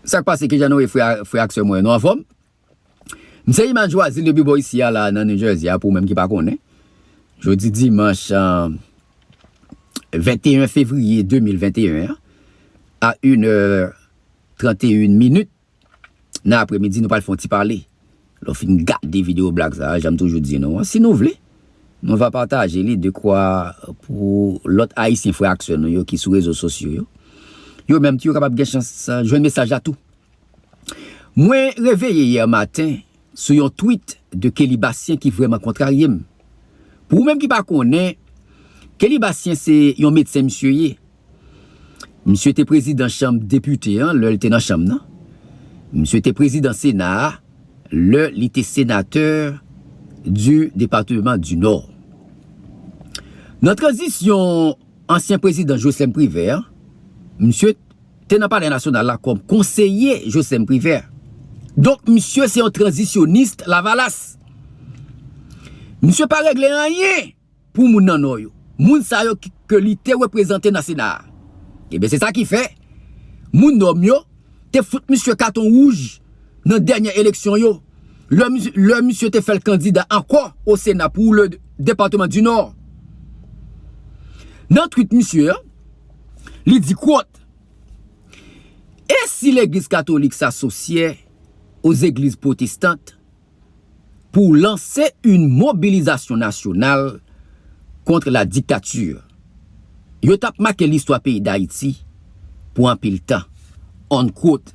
Sak pase kijan nou ye frè ak sè mwen yo nou anfòm m se Iman Joazile depi bò isi a la nan New Jersey a pou ou menm ki pa konnen jodi dimanch 21 fevrier 2021 an a inè 31 minit nan apremidi nou pral fon ti pale. Lè w fin gade videyo blag sa a, jan m toujou di nou an, si nou vle, mwen va pataje li dekwa pou lòt Ayisyen frè ak sè nou yo ki sou rezo sosyo yo, yo menm tou yo kapab gen chans jwenn mesaj la tou. Mwen reveye yè maten sou yon tweet de Kelly Bastien ki vrèman kontrarye m. Pou ou menm ki pa konnen, Kelly Bastien se yon medsen misye ye. Misye te prezidan chanm depite an lè l te nan chanm nan. Misye te prezidan sena a lè li te senatè di depateman di Nò. Nan tranzisyon ansyen prezidan Joslèm Privè an, misye te nan palè nasyonal la kòm konseye Joslèm Privè. Donk misye se yon tranzisyonis lavalas. Misye pa regle anyen! pou moun nan Nò yo, moun sa yo ke li te reprezante nan Sena a. Ebyen se sa ki fè, moun Nò m yo te fout misye katon wouj nan dènyè eleksyon yo, lè misye te fè l kandida ankò o Sena pou le Departement du Nord. Nan twit misye an, li di kwot, E si legliz katolik sa sosyè o zegliz pwotestant pou lanse yn mobilizasyon nasyonal kontr la diktatur. Yo t ap make listwa peyi Dayiti pou anpil tan. Unquote.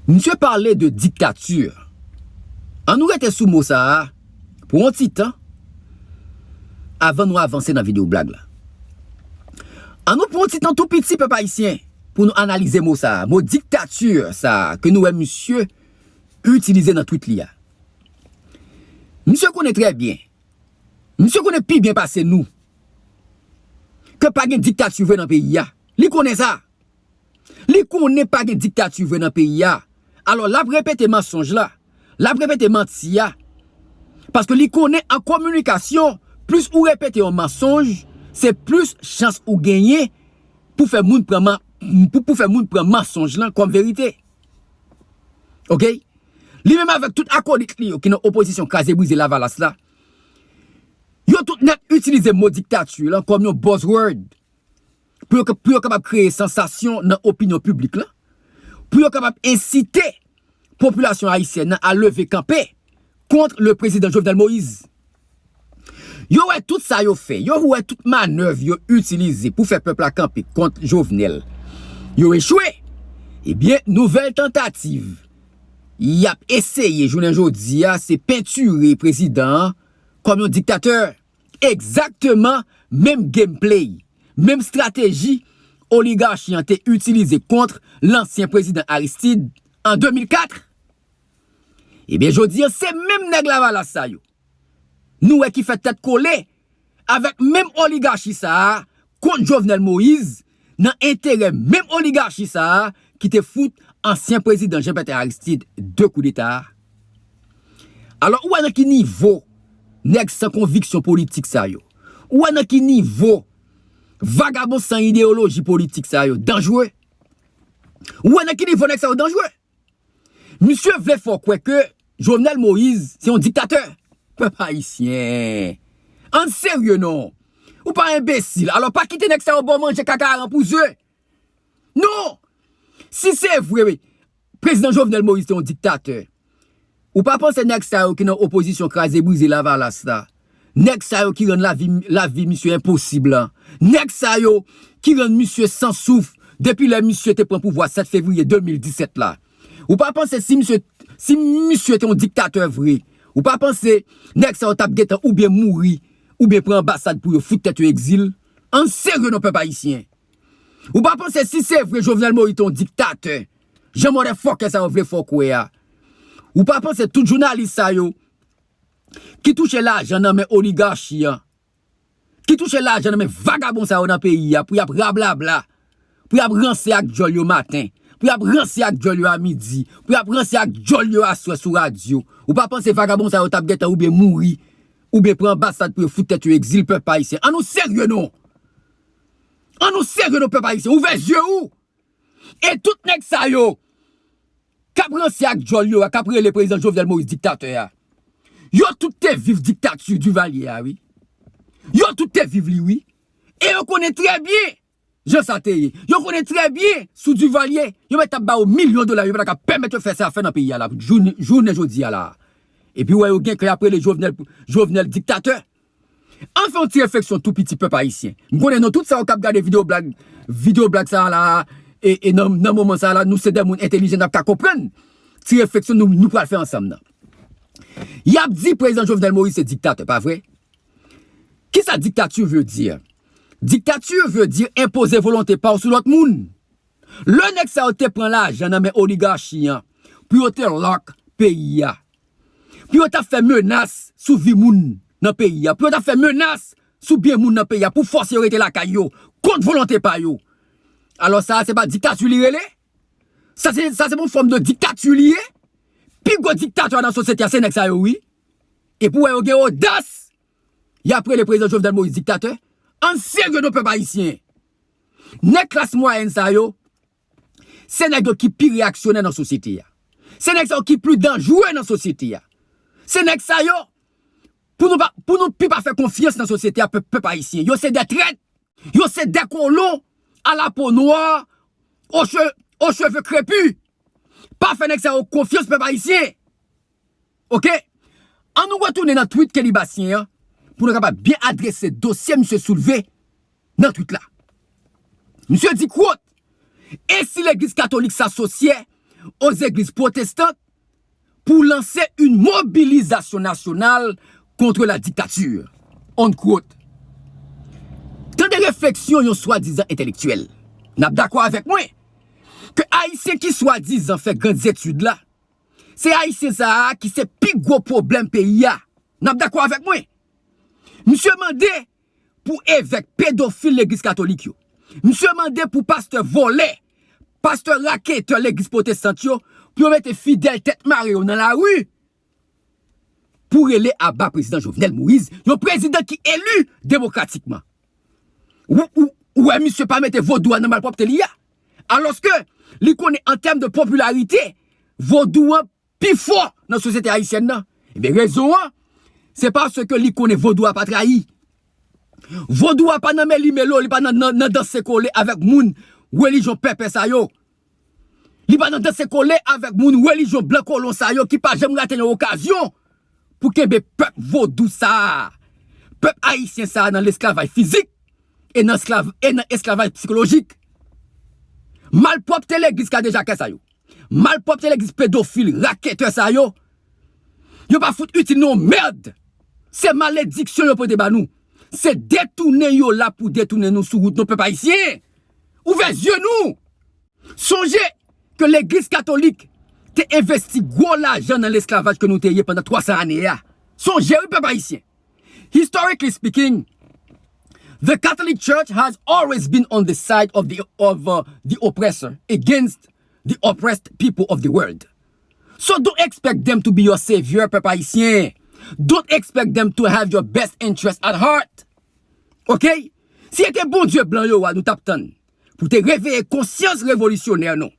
Msye pale de diktatur. An nou rete sou mo sa a pou on ti tan avan nou avanse nan video blag la. An nou pran on ti tan tou piti pèp ayisyen pou nou analize mo sa a, mo diktatur sa a ke nou wè msye itilize nan twit li a. Misye konnen trè byen, misye konnen pi byen pase nou ke pa gen diktati vre nan peyi a. Li konnen sa. Li konnen pa gen diktati vre nan peyi a. Alò l ap repete mansonj la, l ap repete manti a. Paske li konnen an kominikasyon, plis ou repete yon mansonj, se plis chans ou genyen pou fè moun pran mansonj lan kòm verite. Ok Li menm avèk tout akolit li yo ki nan opozisyon kraze brize lavalas la Yo tout nèt itilize mo diktati lan kòm yon bòz wòd Pou yo pou yo kapab kreye sansasyon nan opinyon piblik lan Pou yo kapab ensite popilasyon ayisyèn nan a leve kanpe kont le prezidan Jovenel Moïse. Yo wè tout sa yo fè, yo wè tout manèv yo itilize pou fè pèp la kanpe kont Jovenel yo echwe. Ebyen, nouvèl tantativ y ap eseye jounen jodi a se pentire prezidan an kòm yon diktatè. Egzakteman menm game play, menm strateji oligarchi an te itilize kontr lansyen prezidan Aristide an 2004. Ebyen jodi an se menm nèg lavalas sa yo nou wè ki fè tèt kole avèk menm oligachi sa a kont Jovenel Moïse nan enterè menm oligachi sa a ki te fout ansyen prezidan Jean Bertin Aristide 2 koudeta a. Alò ou wè nan ki nivo nèg san konviksyon politik sa yo, ou wè nan ki nivo vagabon san ideyoloji politik sa yo danjre, ou wè nan ki nivo nèg sa yo danjre. Misye vle fè w kwè ke Jovenel Moïse se yon diktatè. Pèp Ayisyen! Ann serye non! Ou pa enbesil, alò pa kite nèg sa yo ba w manje kaka aran pou ze! Non! Si se vre Prezidan Jovenel Moïse te yon diktatè, Ou pa panse nèg sa yo ki nan opozisyon kraze brize lavalas la, nèg sa yo ki rann lavi lavi misye enposib la, nèg sa yo ki rann misye san souf depi lè misye te pran pouvwa 7 fevriye 2017 la, ou pa panse si misye si misye te yon diktatè vre, ou pa panse nèg sa yo tap gentan oubyen mouri oubyen pran anbasad pou yo fout tèt yo egzil? Ann serye non pèp ayisyen! Ou pa panse si se vre Jovenel Moïse te yon diktatè, jan mòdèfòkè sa yo vle fè w kwè a, ou pa panse tout jounalis sa yo ki touche lajan nan men oligarchi an, ki touche lajan nan men vagabon sa yo nan peyi a pou y ap rablabla, pou y ap ranse ak dyòl yo maten, pou y ap ranse ak dyòl yo a midi, pou y ap ranse ak dyòl yo aswè sou radyo, ou pa panse vagabon sa yo t ap gentan oubyen mouri, oubyen pran anbasad pou yo fout tèt yo egzil pèp ayisyen? An nou serye non! An nou serye non pèp ayisyen, ouvè zye ou! E tout nèg sa yo k ap ranse ak djòl yo a, k ap rele prezidan Jovenel Moïse diktatè a, yo tout te viv diktati Duvalier a wi. Yo tout te viv li wi. E yo konnen trè byen jan sa te ye. Yo konnen trè byen sou Duvalier, yo mèt ap ba yo milyon dola, yo pa ta ka pèmèt yo fè sa y ap fè nan peyi a la jounen jodi a la a. Epi ou wè yo gen kè y ap rele Jovenel diktatè. Ann fè yon ti refleksyon tou piti pèp ayisyen. M konnen nou tout sa yo kap gade video blag video blag sa a la a e nan moman sa a la nou se dè moun entelijan nap ka konprann ti refleksyon nou nou pral fè ansanm nan. Yap di prezidan Jovenel Moïse se diktatè pa vre? Kisa diktature veut dire? Diktature veut dire enpoze volonte pa w sou lòt moun. Lè nèg sa yo te pran lajan nan men oligarchi an pou yo te lock peyi a pou yo ta fè menas sou vi moun nan peyi a, pou yo ta fè menas sou byen moun nan peyi a, pou fòse yo rete lakay yo, kont volonte pa yo. Alò sa a se pa diktati li rele? Sa se sa se pa yon fòm de diktati li ye? Pi gwo diktatè nan sosyete a se nèg sa yo wi. E pou wè yo gen odas y ap rele Prezidan Jovenel Moïse diktatè? An n serye non pèp ayisyen! Nèg klas mwayèn sa yo, Se nèg yo ki pi reyaksyonè nan sosyete a. Se nèg sa yo ki pli danjre nan sosyete a. Se nèg sa yo pou nou pa pou nou pi pa fè konfyans nan sosyete a pèp pèp ayisyen. Yo se dè trèt. Yo se dè kolon a la po nwa o che o cheve krepi. Pa fè nèg sa yo konfyans pèp ayisyen. Ok! An nou retounen nan tweet Kenny Bastien an pou nou kapab byen adrese dosye misye soulve nan tweet la. Misye di quote, E si legliz katolik sa sosyè o zegliz pwotestant pou lanse yn mobilizasyon nasyonal kontre la dictature? Unquote. Tande refleksyon yon swadizan entelektyèl. Nap dakò avèk mwen ke Ayisyen ki swadizan fè grandes études la, Se ayisyen sa a ki se pi gwo pwoblèm peyi a. N ap dakò avèk mwen? Misye mande pou evèk pedofil legliz katolik yo. Misye mande pou pastè vòlè, pastè raketè legliz pwotestant yo, pou yo mete fidèl tèt mare yo nan lari pou rele aba prezidan Jovenel Moïse, yon prezidan ki eli demokratikman. Ou wè misye pa mete vodou a nan malpwòpte li a? Alòske, li konnen an tèm de popilarite, vodou an pi fò nan sosyete ayisyèn nan. Ebyen, rezon an, se paske li konnen vodou a pa trayi. Vodou a pa nan meli-melo, li pa nan danse kole avèk moun relijyon pèpè sa yo. Li pa nan danse kole avèk moun relijyon blan kolon sa yo ki pa janm rate yon okazyon pou kenbe pèp vodou sa a, pèp ayisyen sa a nan lesklavay fizik e nan esklavaj psikolojik. Malpwòpte legliz kadejakè sa yo, malpwòpte legliz pedofil raketè sa yo, yo pa fout itil nou yon mèrd! Se malediksyon yo pote ba nou, se detounen yo la pou detounen nou sou wout nou pèp ayisyen! Ouvè zye nou! Sonje ke legliz katolik te envesti gwo lajan nan lesklavaj ke nou te ye pandan 300 ane a. Sonje wi pèp ayisyen. Historically speaking, the Catholic Church has always been on the side of the oppressor against the oppressed people of the world. So don't expect them to be your savior pèp ayisyen. Don't expect them to have your best interest at heart. Ok? Si e te Bondye blan yo a nou tap tann. pou te reveye konsyans revolisyonè nou,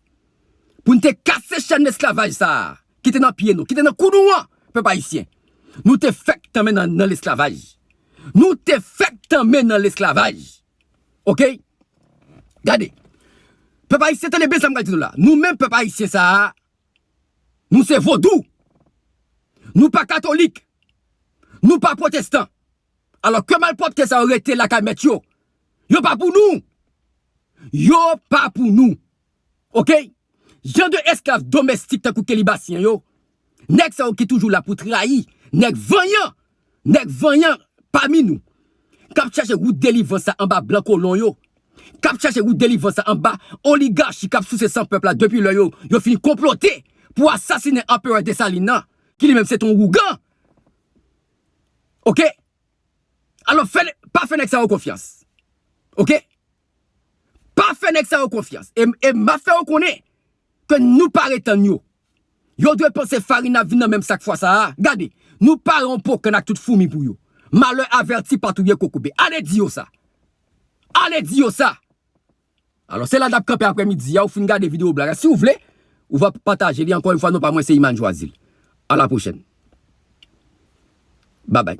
pou n te kase chèn lesklavaj sa a ki te nan pye nou, ki te nan kou nou an, pèp ayisyen. Nou te fèk tanmen nan lesklavaj. Nou te fèk tanmen nan lesklavaj. Ok? Gade, pèp ayisyen tande byen sa m pral di nou la. Nou menm pèp ayisyen sa a, nou se vodou. Nou pa katolik. Nou pa pwotestan. Alò ke malpwòpte sa yo rete lakay mèt yo. Yo pa pou nou. Yo pa pou nou. Ok. Jan de esklav domèstik tankou Kelibasyen yo, nèg sa yo ki toujou la pou trayi, nèg vanyan, nèg vanyan pami nou, k ap chache wout delivrans la anba blan kolon yo, k ap chache wout delivrans la anba oligachi k ap souse san pèp la depi lè yo yo fin konplote pou asasinen Anperè Desalin nan, ki li menm se te yon wougan. ok alò pa fè nèg sa yo konfyans ok pa fè nèg sa yo konfyans e map fè yo konnen ke nou pare tann yo yo dwe panse farin nan ap vin nan menm sak fwa sa a gade nou pare yon pokann ak tout foumi pou yo malè avèti pa touye kokobe ale di yo sa ale di yo sa. Alò se la nap kanpe aprè midi a ou fin gade video blag la si ou vle ou va pataje li ankò yon fwa non pa mwen se Iman Joazile a la pwochèn babay.